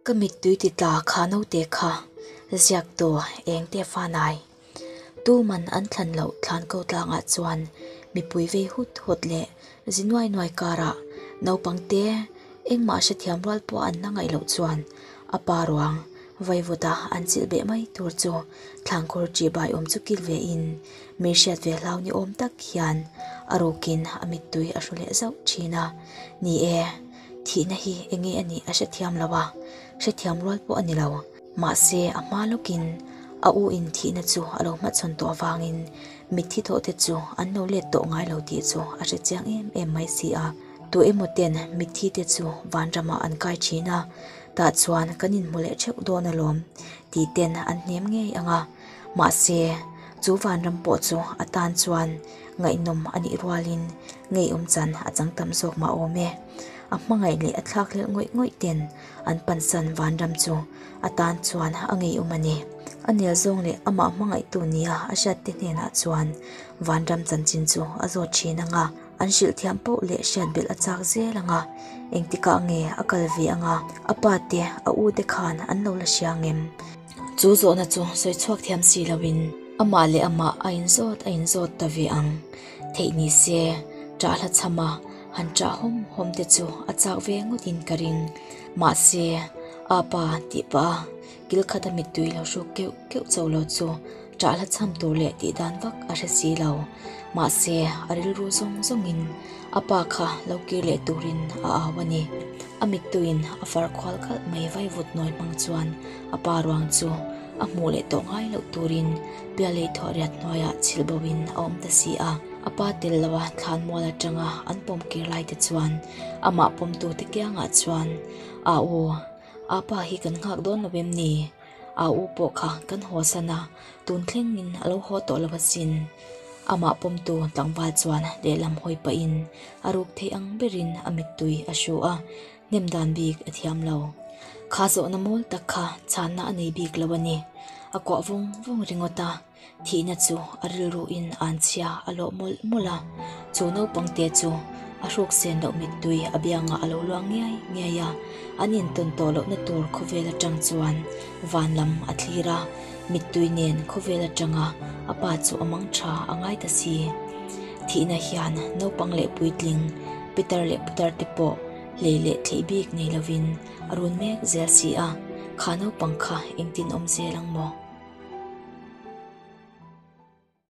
Ka mittui ti tla kha naute kha ziak tawh eng te fanai. Tuman an thlan loh thlan ko tlangah chuan mipui vei hut hut leh. Zinuai nuai karah naupangte engmah hre thiam rual pawh an la ngaih loh chuan a pa ruang vaivuta an chilh beh mai tur chu thlangkhur tih baiawm chu kil ve in mi hriat ve hlau ni awm tak hian a rukin a mittui a hru leh zauh thin a, Ni e, thihna hi enge a nih a hrethiam lo a, hrethiam rual pawh a ni lo. Mahse, a hma lawkin a u inthihna chu a lo hmachhawn tawh avangin mitthi thawhte chu an lo let tawh ngai lo tih chu a hre chiang em em mai si a. Tuah emaw-ten mitthi te chu van ramah an kai thin a, tah chuan kan inhmu leh theuh dawn alawm tih ten an hnem ngei ang a. Mahse, chu van ram pawh chu a tan chuan ngaihnawm a nih rualin ngeiawm chan a chang tam zawk mah awm e. A hmangaih leh a thlak hlel ngawih ngawih ten. An pansan Vanram chu a tan chuan a ngeium a ni. A nel zawng leh amah hmangaihtu nia a hriatte hnenah chuan Vanram chanchin chu a zawt thin ang a, an hrilh thiam poh leh hriat belh a chak zel ang a. Engtikah nge a kal ve ang a, a pa te, a u te khan an lo la hria ang em? Chu zawhna chu sawi chhuak thiam si lo in amah leh amah a in zawt a in zawt ta ve ang theih ni se, Ṭahla chham a. Han chah hawm hawm te chu a chak ve ngawt in ka ring mahse apa tih pah a kil khat a mit tui lo hruk keuh keuh chauh lo chu chah hla chham tur leh tih dan vak a hre si lo mahse a rilru zawng zawng in apa kha lo kir leh tur in a au a ni a mit tu in a far khual kalh mai vai vut nawi hmang chuan apa ruang chu a hmuh leh tawh ngai loh tur in-- Pialei thawhriat hnuaiah chhilh boin a awm ta si a, a pa tel loha thlanmual atanga an pawm kir lai te chuan amah pawmtu te kiangah chuan, A u, aa pa hi kan nghak dawn lo em ni? Aa u pawh kha kan haw san a, tun thlengin a lo haw tawh lo asin. Amah pawmtu tlangval chuan lehlam hawi pahin a ruk thei ang berin a mittui a hruh a, Hnem dan bik a thiam lo. Kha zawhna mawl tak kha chhanna a nei bik lo a ni. A kuah vawng vawng ringawt a, thihna chu a rilru in an chhia a lawh mawlh mawlh a. Chu naupang te chu a hruk sen loh mittui a biangah a lo luang ngiai ngiai a. An intawn tawh lohna tur khawvel atang chuan van lam a thlir a, mittui nen khawvel atanga a pa chu a mang tha a ngai ta si. Thihna hian naupang leh puitling. Peter leh putar te pawh hlei leh thleih bik nei lovin a run mek zel si a, Kha naupang kha engtin awm zel ang maw?